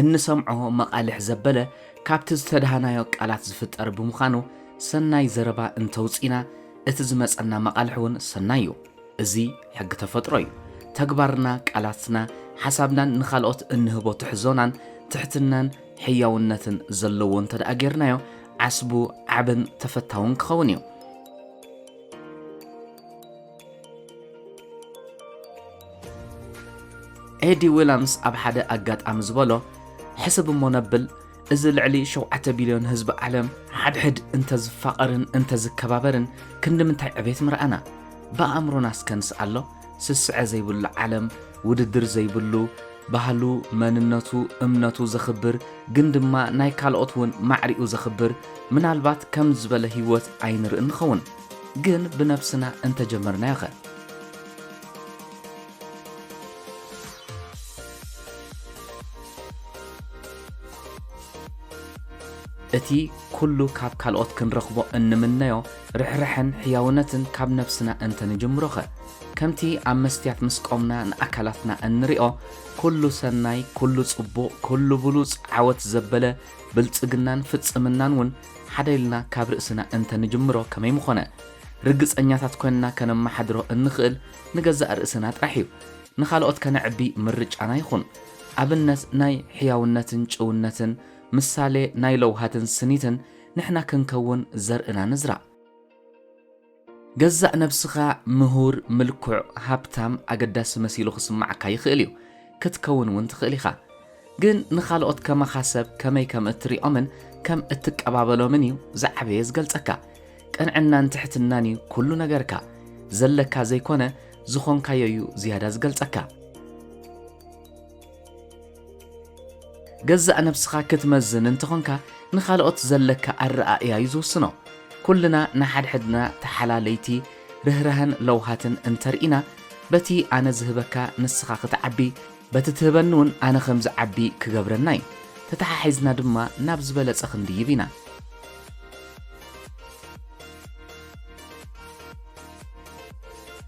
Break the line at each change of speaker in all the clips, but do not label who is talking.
እንሰምዖ መቓልሕ ዘበለ ካብቲ ዝተደሃናዮ ቃላት ዝፍጠር ብምዃኑ ሰናይ ዘረባ እንተውጺእና እቲ ዝመጸና መቓልሕ እውን ሰናይ እዩ። እዚ ሕጊ ተፈጥሮ እዩ። ተግባርና፣ ቃላትና፣ ሓሳብናን ንኻልኦት እንህቦ ትሕዞናን ትሕትናን ሕያውነትን ዘለዎ እንተደኣ ጌርናዮ ዓስቡ ዓብን ተፈታውን ክኸውን እዩ። ኤዲ ዊላምስ ኣብ ሓደ ኣጋጣሚ ዝበሎ ሕስብ እሞ ነብል እዚ ልዕሊ ሸውዓተ ቢልዮን ህዝቢ ዓለም ሓድሕድ እንተዝፋቐርን እንተዝከባበርን ክንዲ ምንታይ ዕቤት ምርኣና ብኣእምሮና እስከ ንስኣሎ ስስዐ ዘይብሉ ዓለም ውድድር ዘይብሉ ባህሉ መንነቱ እምነቱ ዘኽብር ግን ድማ ናይ ካልኦት እውን ማዕሪኡ ዘኽብር ምናልባት ከም ዝበለ ህይወት ኣይንርኢ ንኸውን ግን ብነብስና እንተጀመርናዮኸ? እቲ ኩሉ ካብ ካልኦት ክንረኽቦ እንምነዮ ርሕራሐን ሕያውነትን ካብ ነብስና እንተንጅምሮኸ? ከምቲ ኣብ መስትያት ምስ ቆምና ንኣካላትና እንሪኦ፣ ኩሉ ሰናይ፣ ኩሉ ጽቡቕ፣ ኩሉ ብሉጽ፣ ዓወት ዘበለ፣ ብልጽግናን ፍጽምናን ውን ሓደ ኢልና ካብ ርእስና እንተ ንጅምሮ ከመይ ምኾነ? ርግጸኛታት ኮንና ከነመሓድሮ እንኽእል ንገዛእ ርእስና ጥራሕ እዩ። ንኻልኦት ከነዕቢ ምርጫና ይኹን። ኣብነት ናይ ሕያውነትን ጭውነትን፣ ምሳሌ ናይ ለውሃትን ስኒትን ንሕና ክንከውን ዘርእና ንዝራእ። ገዛእ ነብስኻ ምሁር፣ ምልኩዕ፣ ሃብታም፣ ኣገዳሲ መሲሉ ክስምዓካ ይኽእል እዩ። ክትከውን እውን ትኽእል ኢኻ። ግን ንኻልኦት ከማኻ ሰብ ከመይ ከም እትሪኦምን ከም እትቀባበሎምን እዩ ዝዓበየ ዝገልጸካ። ቅንዕናን ትሕትናን እዩ ኩሉ ነገርካ። ዘለካ ዘይኮነ ዝኾንካዮ እዩ ዝያዳ ዝገልጸካ። ገዛእ ነብስኻ ክትመዝን እንተኾንካ ንኻልኦት ዘለካ ኣረኣእያ እዩ ዝውስኖ። ኩልና ንሓድሕድና ተሓላለይቲ ርህራሀን ለውሃትን እንተርኢና በቲ ኣነ ዝህበካ ንስኻ ክትዓቢ በቲ ትህበኒ እውን ኣነ ከም ዝዓቢ ክገብረና እዩ። ተተሓሒዝና ድማ ናብ ዝበለጸ ክንድይብ ኢና።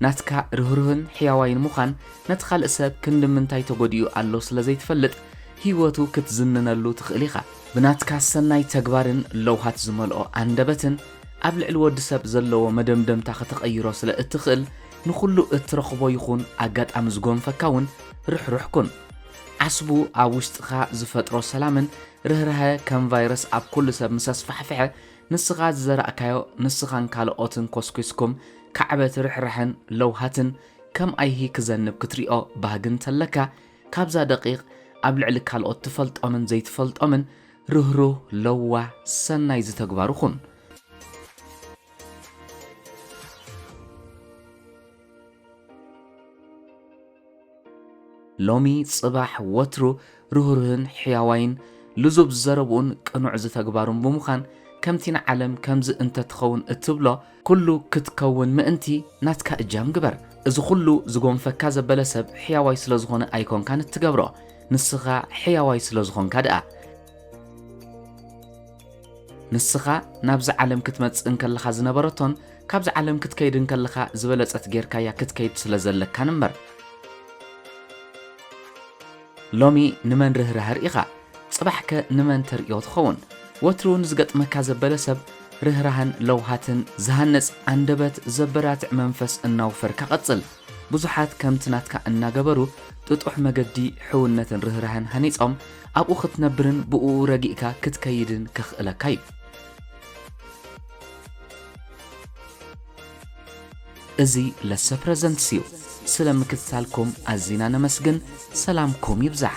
ናትካ ርህሩህን ሕያዋይን ምዃን ነቲ ካልእ ሰብ ክንዲ ምንታይ ተጎዲኡ ኣሎ ስለ ዘይትፈልጥ ህይወቱ ክትዝንነሉ ትኽእል ኢኻ። ብናትካ ሰናይ ተግባርን ለውሃት ዝመልኦ ኣንደበትን ኣብ ልዕሊ ወዲ ሰብ ዘለዎ መደምደምታ ከተቐይሮ ስለ እትኽእል ንኹሉ እትረኽቦ ይኹን ኣጋጣሚ ዝጎንፈካ እውን ርሕሩሕ ኩን። ዓስቡ ኣብ ውሽጥኻ ዝፈጥሮ ሰላምን ርህራሀ ከም ቫይረስ ኣብ ኩሉ ሰብ ምስ ኣስፋሕፍሐ ንስኻ ዝዘራእካዮ ንስኻን ካልኦትን ኮስኲስኩም ካዕበት ርሕራሐን ለውሃትን ከም ኣይሂ ክዘንብ ክትሪኦ ባህጊ እንተለካ ካብዛ ደቒቕ ኣብ ልዕሊ ካልኦት ትፈልጦምን ዘይትፈልጦምን ርህሩህ ለዋህ ሰናይ ዝተግባሩ ኩን። ሎሚ ጽባሕ ወትሩ ርህሩህን ሕያዋይን ልዙብ ዘረብኡን ቅኑዕ ዝተግባሩን ብምዃን ከምቲ ንዓለም ከምዚ እንተትኸውን እትብሎ ኩሉ ክትከውን ምእንቲ ናትካ እጃም ግበር። እዚ ኩሉ ዝጎንፈካ ዘበለ ሰብ ሕያዋይ ስለ ዝኾነ ኣይኮንካን እትገብሮ ንስኻ ሕያዋይ ስለ ዝኾንካ ድኣ። ንስኻ ናብዚ ዓለም ክትመጽእ እንከለኻ ዝነበረቶን ካብዚ ዓለም ክትከይድ እንከለኻ ዝበለጸት ጌርካያ ክትከይድ ስለ ዘለካን እምበር ሎሚ ንመን ርህራሀ ርኢኻ ጽባሕከ ንመን ተርእዮ ትኸውን ወትሩ ንዝገጥመካ ዘበለ ሰብ ርህራህን ለውሃትን ዝሃንጽ ኣንደበት ዘበራትዕ መንፈስ እናውፈርካ ቀጽል ብዙሓት ከምቲ ናትካ እናገበሩ ጥጡሕ መገዲ ሕውነትን ርህራሀን ሃኒጾም ኣብኡ ክትነብርን ብእኡ ረጊእካ ክትከይድን ከኽእለካ እዩ። እዚ ለሰ ፕረዘንትስ እዩ። ስለ ምክትታልኩም ኣዚና ነመስግን። ሰላምኩም ይብዛሕ።